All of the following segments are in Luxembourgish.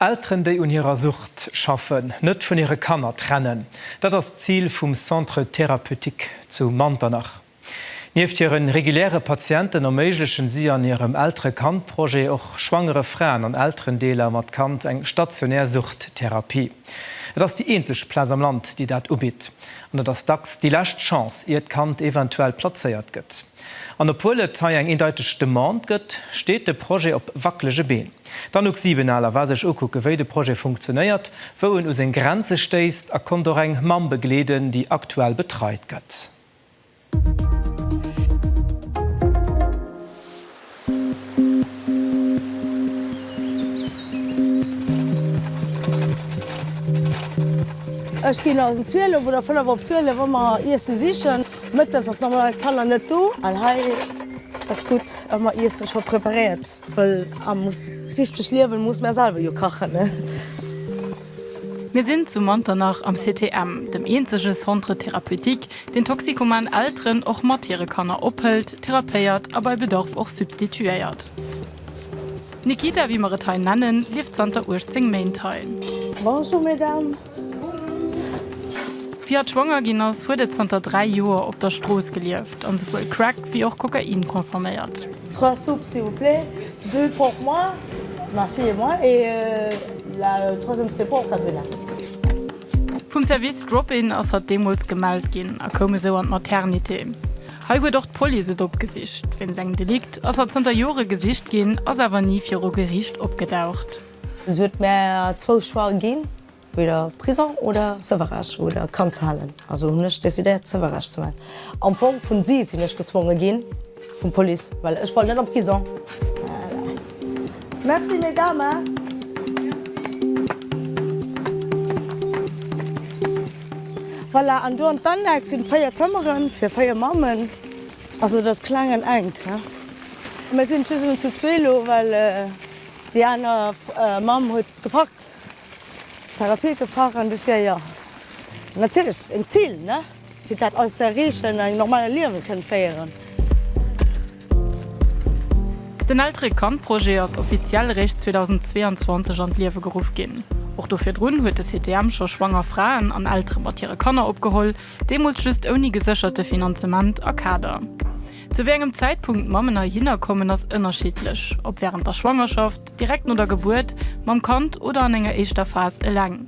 Elteren, déi un hirer Sucht schaffen, net vun hire Kanner trennen, dat ass d'Zil vum Centre Thérapeutique zu Manternach. Nieft hire reguläre Patienten erméiglechen si an hirem Eltere-Kand-Projet och schwangere Fraen an Elterendeeler mat Kand eng stationär Suchttherapie. Et ass déi eenzeg Plaz am Land, déi dat ubitt an et ass dacks déi lescht Chance, ier d'Kand eventuell plazéiert gëtt. An obwuel et hei eng eendeiteg Demande gëtt, steet de Projet op wackelege Been. D'Anouk Siebenaler war sech ukucke wéi de Projet funktionéiert, wou en u seng Grenze stéisst a konnt och eng Mamm begleeden, déi aktuell betreit gëtt. Ech ginn als em 12 oder 5 op 12 ëmmer Iesse sichen. Mëttes ass normalerweis Kanner net do an hei ass gutt ëmmer Iesse scho preparéiert, wëll am richteg Liewen muss mer selwer jo kachen. Mir sinn zu Manternach am CTM, dem eenzege Centre Thérapeutique, deen toxikoman Elteren och mat hire Kanner ophëlt, therapéiert a bei Bedarf och substituéiert. D'Nikita, wéi mer et hei nennen, lieft zanter 18 Méint hei. Bonjour Mesdames. Fir hatt schwanger ginn ass, huet et zanter 3 Joer op der Strooss gelieft an souwuel Crack wéi och Kokain consomméiert. Trois soupes s'il vous plaît. Deux pour moi, ma fille et moi, et la troisième c'est pour Sabrina. Vum Service Drop-In ass hatt deemools gemellt ginn a koum esou an d'Maternité. Hei huet och d'Police et opgesicht. Wéinst engem Delikt ass hatt zënter Jore gesicht ginn, ass awer ni viru Geriicht opgedaucht. Se huet mär zwou Choix ginn, Weder Prison oder Sewerech oder Kand ze halen, also hunn ech decidéiert Sewerech ze man. Am Fong vun si sinn ech gezwonge ginn vum Police well ech wollt net an Prison. Merci Mesdames. Voilà an do an d'Annex sinn 4 Zëmmeren fir 4 Mammen, also et ass kleng an enk ne. Mir sinn just emol zu zwee lo well déi aner Mamm huet gepackt. Sarah Pieker, Facharberin du Fier, Jo, natierlech en Zil, ne, fir dat alles ze erreechen an eng normale Liewen kënnen féieren. Den Eltere-Kand-Projet ass offiziell eréischt 2022 an d'Liewe geruff ginn. Och do virdrun huet de CTM scho schwanger Fraen an Eltere mat hire Kanner opgeholl, deemools just ouni gesécherte Finanzement a Kader. Zu wéi engem Zäitpunkt d'Mammen heihinner kommen, ass ënnerschiddlech, ob wärend der Schwangerschaft, direkt no der Gebuert, mam Kand oder an enger éischter Phas eleng.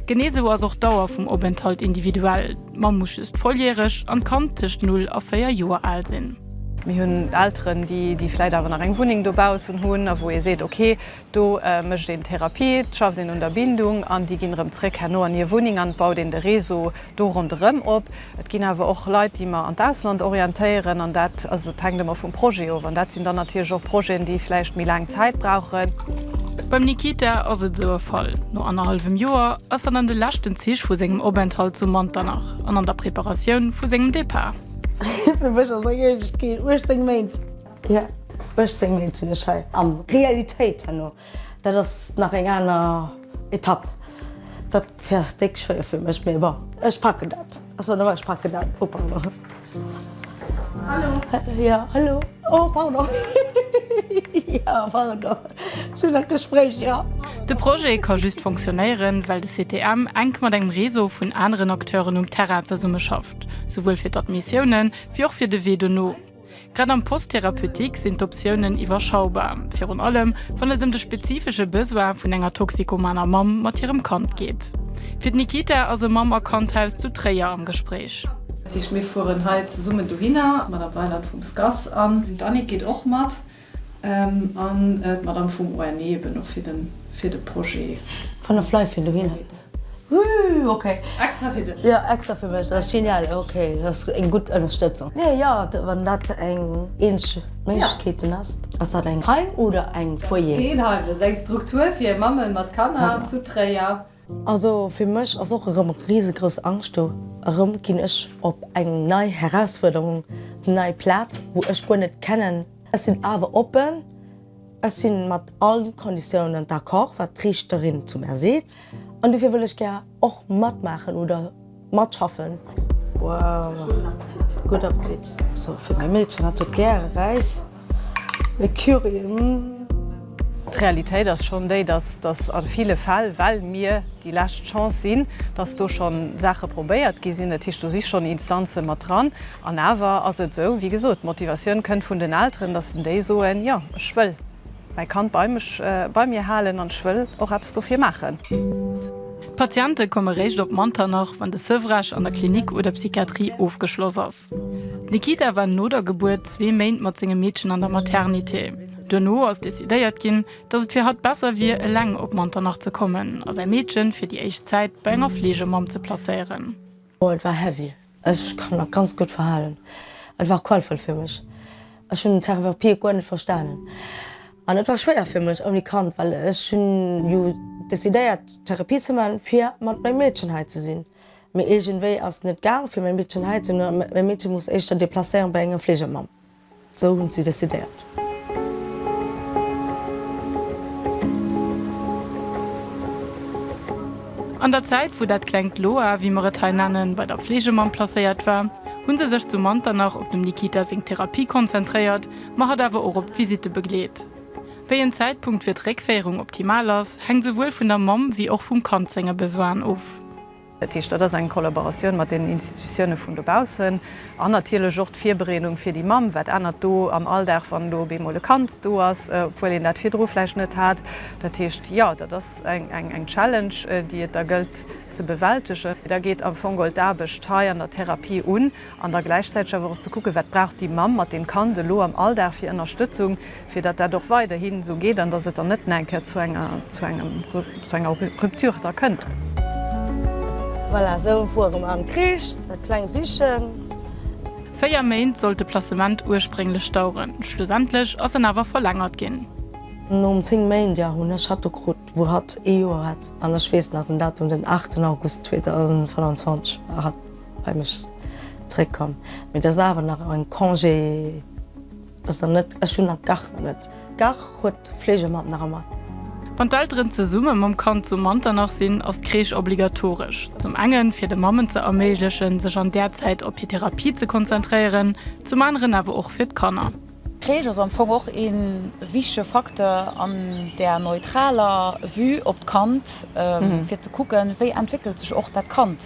Genee esou ass och d'Dauer vum Openthalt individuell, d'Mamm muss just volljäreg an d'Kand tëscht null a véier Joer al sinn. Mir hunn Elteren, déi vläicht awer nach eng Wunneng dobaussen hunn a wou ee seet, okay, Do mécht een d'Therapie, schafft een un der Bindung an déi ginn erëm zréck herno an hir Wunneng an et baut een de Réseau do ronderëm op. Et ginn awer och Leit, déi mer an d'Ausland orientéieren an dat, also et hänkt ëmmer vum Projet of an dat sinn dann natierlech och Projeten, déi vläicht méi laang Zäit brauchen. Beim Nikita ass et esou e Fall. No annerhallwem Joer ass en an de leschten Zich vu sengem Openthalt zu Manternach an an der Preparatioun vu sengem Depart. Fir mech ass eng Éiwegkeet 18 Méint. Jo, ech séngen eent un dech hei am Realitéit herno. Dat ass nach eng aner Etapp. Dat wär déck schwéier fir mech, mee bon, ech packen dat. Ach sou, nawell, ech packen dat. Oh pardon. Hallo. Jo, hallo. Oh pardon. Jo, pardon. Ech hunn nach Gespréich, jo. De Projet ka just fonctionnéieren, well de CTM enk mat engem Réseau vun aneren Acteuren um Terrain zesummeschafft, souwuel fir d'Admissiounen, wéi och fir de Wee dono. Grad am Post thérapeutique sinn d'Optiounen iwwerschaubar, virun allem wann et ëm de spezifesche Besoin vun enger toxikomaner Mamm mat hirem Kand geet. Fir d'Nikita ass e Mamm a Kandhaus zu Tréier am Gespréich. Dat heescht, mir fueren hei zesummen dohinner, mat am Bäileid vum SCAS, an d'Annick geet och mat. An d'Madame vum ONE eben och fir de Projet. Von der Fly fir dohin. Woouu ok. Extra fir dech. Jo extra fir mech, dat ass genial. Ok dat ass eng gutt Ënnerstëtzung. Nee jo wann dat eng eeneg Méiglechkeeten ass. Ass dat eng Heim oder eng Foyer? Dat ass keen Heim, dat ass eng Struktur fir Mammen mat Kanner zu Tréier. Also fir mech ass och erëm risegrouss Angscht do. Erëm ginn ech op eng nei Herausfuerderung, op eng nei Plaz, wou ech guer net kennen. Ech sinn awer oppen, ech si mat all Konditiounen d'accord, wat d'Riichterin zu mär seet, an dofir wëll ech gär och matmaachen oder. matschaffen. Wow, gudd Appetit. So fir mäi Meedchen hat et gäre Räis e Curry, mm. D'Realitéit ass schonn déi, dass dass a ville Fäll, well mir déi lescht Chance sinn, dass do schonn Saache probéiert gi sinn. Dat heescht, do si schonn Instanze mat dran. An awer ass et esou, wéi gesot, d'Motivatioun kënnt vun den Elteren, dass en déi soen, Jo, ech wëll. Mäi Kand bei mech, bei mir halen an ech wëll och eppes dofir maachen. D'Patiente komme réischt op Manternach, wann de Sevrage an der Klinik oder Psychiatrie ofgeschloss ass. D'Nikita war no der Gebuert zwee Méint mat sengem Meedchen an der Maternité. Duerno ass decidéiert ginn, datt et fir hatt besser wier, eleng op Manternach ze kommen a säi Meedchen fir déi éischt Zäit bei enger Fleegemamm ze placéieren. Oh, et war heavy. Ech kann nach ganz gutt verhalen. Et war qualvoll fir mech. Ech hunn den Terrain war pied guer net verstanen. An et war schwéier fir mech ouni Kand, well ech hunn jo decidéiert Therapie ze man fir mat mengem Meedchen hei ze sinn. Mee iergendwéi ass net gaang fir mäi Meedchen hei ze hunn. Mäi Meedchen muss éischter deplacéieren bei enger Fleegermamm. Sou hunn si decidéiert. An der Zäit, wou dat klengt Loa, wéi mer et hei nennen, bei der Fleegemamm placéiert war, hu se sech zu Manternach op dem Nikita seng Therapie konzentréiert, ma hatt awer och op d'Visitte begleet. Wéi en Zäitpunkt fir d'Réckféierung optimal ass, hänkt souwuel vun der Mamm wéi och vum Kand senge Besoinen of. Dat heescht, dat ass eng Kollaboratioun mat den Institutiounen vun dobaussen an natierlech och d'Virbereedung fir déi Mamm. Wat ännert do am Alldag, wann elo op eemol e Kand do ass, obwuel een dat virdru vläicht net hat? Dat heescht, jo, dat ass eng Challenge, déi et da gëllt ze bewältegen. Da geet am Fong geholl d'Aarbecht hei an der Therapie un. An da gläichzäiteg awer och ze kucken, wat brauch déi Mamm mat deem Kand elo am Alldag fir Ënnerstëtzung, fir datt dat och weiderhi sou geet an datt et dann net nach eng Kéier zu enger, zu engem, zu enger Rupture da kënnt. Voilà, esou woer erëm am Kreesch dat kleng Sichen. Véier Méint sollt de Placement ursprénglech daueren, schlussendlech ass en awer verlängert ginn. Nom 10 Méint, jo, hunn ech hatt do krut, wou hatt ee Joer hat. An ech weess nach den Datum, den 8 August 2025 war hatt. Beim ech zréck komm, mee dass awer nach en Congé, dass der net, ech hunn nach gar net, gar huet d'Fleegemamm nach ëmmer. Wann d'Elteren zesumme mam Kand zu Manternach sinn, ass d'Crèche obligatoresch, zum enge fir de Mammen ze erméiglechen, sech an där Zäit op hir Therapie ze konzentréieren, zum aneren awer och fir d'Kanner. D'Crèche ass am Fong och ee wichtege Facteur an där neutraler Vue op d'Kand, fir ze kucken, wéi entwéckelt sech och dat Kand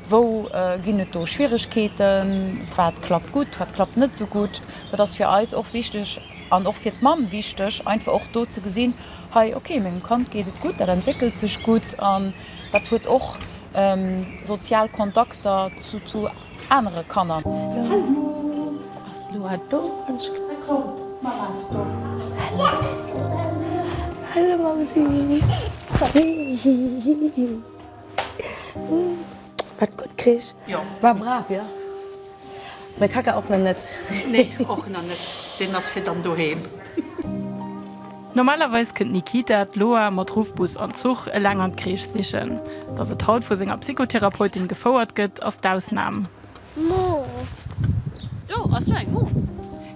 Wou ginn et do Schwieregkeeten? Wat klappt gutt, wat klappt net esou gutt? Dat ass fir eis och wichteg an och fir d'Mamm wichteg, einfach och do ze gesinn, hei, okay, mengem Kand geet et gutt, dat entwéckelt sech gutt an dat huet och sozial Kontakter zu anere Kanner. Wat gutt krich. Jo, war brav, jo. Mäi Kaka och nach net. Nee, och nach net. Deen ass fir dann doheem. Normalerweis kënnt d'Nikita d'Loa mat Ruffbus an Zuch eleng an d'Kreesch sichen. Datt et haut vu senger Psychotherapeutin gefouert gëtt, ass d'Ausnam. Mo. Do ass do eng Mo.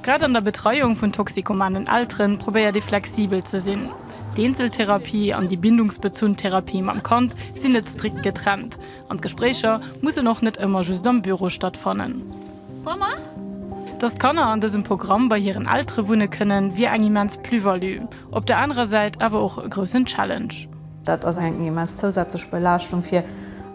Grad an der Betreiung vun toxikomanen Elteren probéiert ee flexibel ze sinn. D'Eenzeltherapie an déi bindungsbezunn Therapie mam Kand sinn net strikt getrennt an d'Gespréicher mussen och net ëmmer just am Büro stattfannen. Dass d'Kanner an dësem Programm bei hiren Eltere wunne kënnen, wier eng immens Plus-value, op der anerer Säit awer och e groussen Challenge. Dat ass eng immens zousätzlech Belaaschtung fir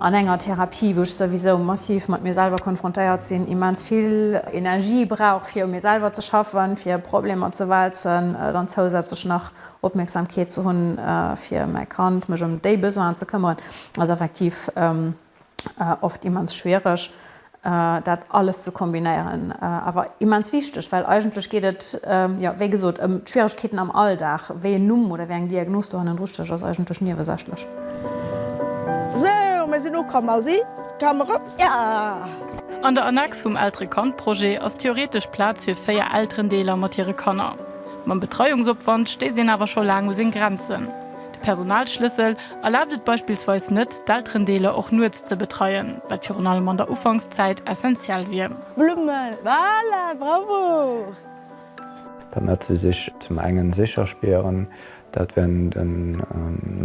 an enger Therapie, wou ech souwisou massiv mat mir selwer konfrontéiert sinn, immens vill Energie brauch fir u mir selwer ze schaffen, fir Problemer ze wälzen, dann zousätzlech nach Opmierksamkeet ze hunn fir mäi Kand, mech ëm déi Besoinen ze këmmeren, ass effektiv. oft immens schwiereg dat alles ze kombinéieren, awer immens wichteg, well eigentlech geet et, jo, wéi gesot, ëm d'Schwieregkeeten am Alldag. Wéi een Numm oder wéi eng Diagnos dohannen dru stécht, ass eigentlech niewesächlech. Sou, mir sinn ukomm. Mausi, komm erop, ja! An der Annex vum Eltere-Kand-Projet ass theoretesch Plaz fir véier Elterendeeler mat hire Kanner. Mam Betreiungsopwand stéisst een awer scho laang u seng Grenzen. De Personalschlëssel erlaabt et beispillsweis net, d'Elterendeeler och nuets ze betreien, wat virun allem an der Ufankszäit essentiell wier. Blummel, voilà, bravo! Permet se sech zum engen sécher spieren, dat während en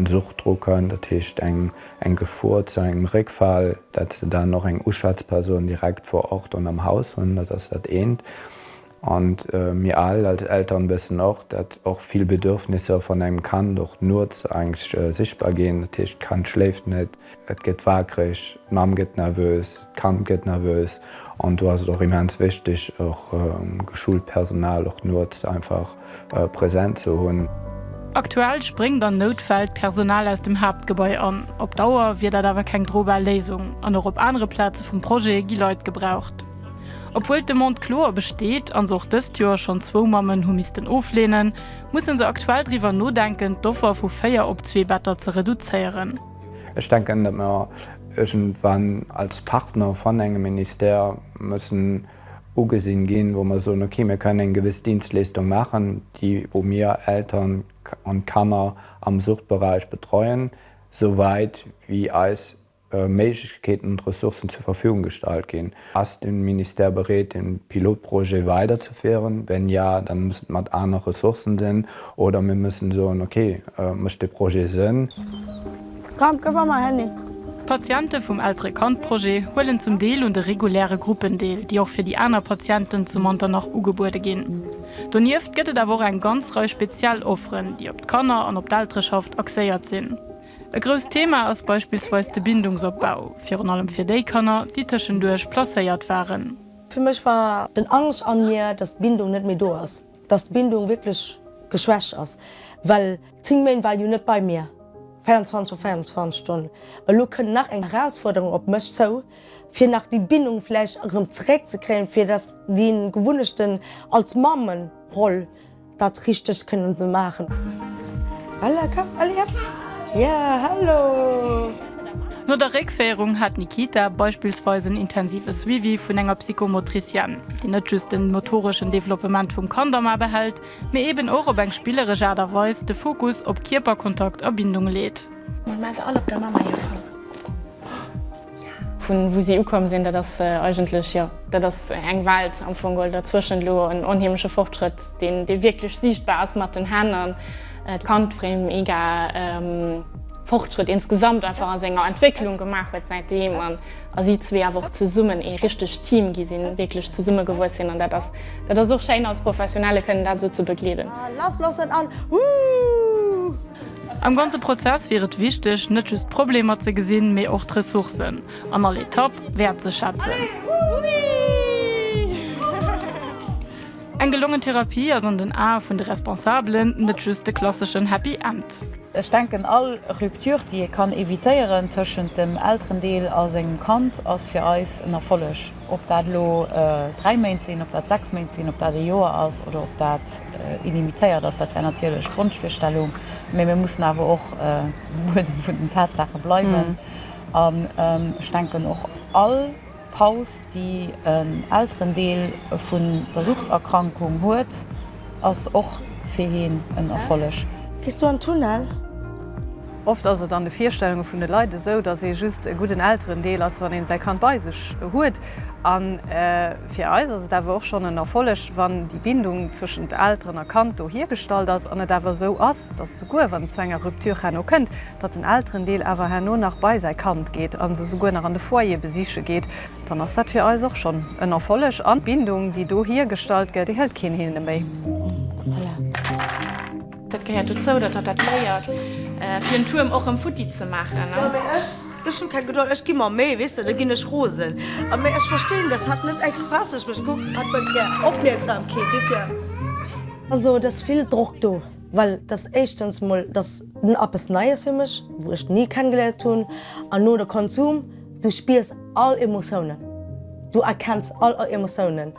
Suchtdruckern, dat heescht eng Gefor zu engem Réckfall, dat se dann och eng Uschwätzperson direkt vor Ort an am Haus hunn, dat ass dat eent. An mir al als Eltern wëssen och, dat och vill Bedürfnisser van engem Kand och nuots eingst sichtbar gin. Dat heescht, d'Kand schléift net, et gëtt waakreg, d'Mamm gëtt nervös, d'Kand gëtt nervös. An do ass et och immens wichtig, och geschult Personal och nuots einfach present ze hunn. Aktuell spréngt an Noutfäll d'Personal aus dem Haaptgebai an. Op Dauer wier dat awer keng drobar Léisung an och op anere Plaze vum Projet gi Leit gebraucht. Obwuel d'Demande kloer besteet an se och dëst Joer schonn zwou Mammen hu missten ofleenen, musse se aktuell driwwer nodenken, d'Offer vu véier op zwee Better ze reduzéieren. Ech denken, datt mer iergendwann als Partner van engem Ministère mussen. ugesinn ginn, wou mer soen, okay, mir kënnen eng gewëss Dienstleestung maachen, déi wou mir Eltern an Kanner am Suchtberäich betreuen, sou wäit wéi eis Méiglechkeeten und Ressourcen zur Verfügung gestellt ginn. Ass den Ministère bereet den Pilotprojet weider ze féieren? Wenn ja, dann muss et mat aner Ressourcen sinn oder mir müssen soen, okay, mécht de Projet Sënn? Komm, komm mat mer, Henny! D'Patiente vum Eltere-Kand-Projet huelen zum Deel un de reguläre Gruppen deel, déi och fir déi aner Patienten zu Manternach ugebuede ginn. Donieft gëtt et awer och eng ganz Rei speziell Offeren, déi op d'Kanner an op d'Eltereschaft axéiert sinn. E grousst Thema ass beispillsweis de Bindungsopbau, virun allem fir déi Kanner, déi tëschenduerch placéiert waren. Fir mech war den Angscht an mir, dass d'Bindung net méi do ass. Dass d'Bindung wierklech geschwächt ass, well 10 Méint war en jo net bei mir, 24 op 24 Stonn. Elo kënnt nach eng Erausfuerderung op mech zou, fir nach déi Bindung vläicht erëm zeréckzekréien, fir dass déi Gewunnechten als Mammenroll dat Richtegt kënnen ze maachen. Voilà, komm, allez, op! Jo, hallo! No der Réckféierung hat d'Nikita beispillsweis en intensive Suivi vun enger Psychomotricienne, déi net just den motoreschen Developpement vum Kand am A behält, mee eben och op eng spilleresch Aart a Weis de Fokus op Kierperkontakt a Bindung leet. Mol mar se all op der Mamma hier Fong. Oh ja! Vun wou si ukomm sinn, dat ass eigentlech, jo, dat ass eng Welt am Fong, oder zwëschent elo en onheemleche Fortschrëtt, deen wierklech siichtbar ass mat den Hänn. Et kann d'Frame mega Fortschritt insgesamt einfach an senger Entwécklung gemaach huet säit deem an a si zwee awer och zesummen ee richtegt Team gi sinn, wierklech zesumme gewuess sinn an dat ass dat ass och schéin als Professionelle kënnen dat esou ze begleeden. Lasslossen an Woo! Am ganze Prozess wier et wichteg, net just d'Problemer ze gesinn, mee och d'Ressourcen an all Etapp wäertzeschätzen. Allez, Woo! Eng gelongen Therapie ass an den Ae vun de Responsabelen net just de klasseschen Happy End. Ech denken all Rupture déi ee kann evitéieren tëschent dem Elterendeel a sengem Kand ass fir eis en Erfolleg. Ob dat elo 3 Méint sinn, ob dat 6 Méint sinn, ob dat e Joer ass oder ob dat illimitéiert ass, dat wär natierlech d'Wonschvirstellung, mä mir mussen awer och um Buedem vun den Tatsaache bleiwen an ech denken och all, D'Paus, déi en Elterendeel vun der Suchterkrankung huet, ass och fir hien en Erfolleg. Gees du an Tunnel? Oft ass et an de Virstellunge vun de Leit esou, dass ee just e gudden Elterendeel ass, wann een säi Kand bei sech huet. A fir eis ass et awer och schonn en Erfolleg, wann déi Bindung zwëschent Elteren a Kand do hiergestallt ass an et awer esou ass, dass souguer wann et zu enger Rupture herno kënnt, datt den Elterendeel awer herno nach bei säi Kand geet a se souguer nach an de Foyer besiche geet, dann ass dat fir eis och schonn en Erfolleg an d'Bindung, déi do hiergestallt gëtt, déi hëlt keen hinne méi. Dat gehéiert dozou, datt hatt dat léiert, fir en Tuerm och erëm futti ze maachen. Jo, mee ech, ech hu keng Gedold, ech gi mer Méi, weess de, da ginn ech rosen. A mee ech verstin, datt hatt net express, ech mech kuckt, hatt huet gär Opmierksamkeet, dofir. Also et ass vill Drock do. Well et ass éischtens mol, et ass eppes Neies fir mech, wou ech ni kennegeléiert hunn. An no de Konsum, du spiers all Emotiounen, du erkenns all Emotiounen,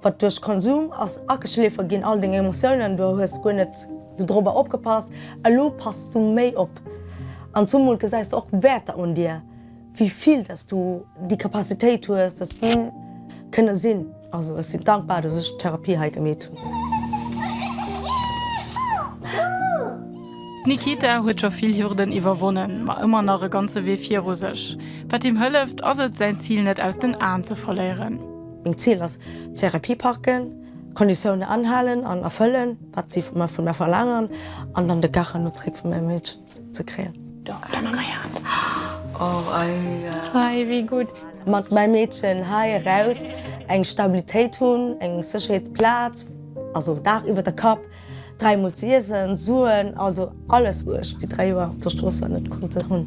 wat duerch Konsum ass ageschleefe ginn, all deng Emotiounen. Du hues guer net dorobber opgepasst, elo passes du méi op. An zumol gesäis du och Wäerter un dir. Wéi vill dass du déi Capacitéit hues, dass de kënne sinn. Also ech sinn dankbar, dass ech d'Therapie hei gemeet hunn. D'Nikita huet scho vill Hürden iwwerwonnen, ma ëmmer nach e ganze Wee viru sech. Wat him hëlleft, ass et, säin Zil net aus den Aen ze verléieren. Meng Zil ass, d'Therapie packen, d'Konditioune anhalen an erfëllen, wat si vun mer verlaangen, an dann de Kach hanno zeréck vu mengem Meedchen. ze kréien. Hei wéi gutt. Mat mäi Meedchen hei eraus eng Stabilitéit hunn, eng Sécherheet, Plaz, also Daach iwwer der Kapp, dräi Mol ze iessen, Suen, also alles wou ech déi dräi Joer op der Strooss war net konnte hunn.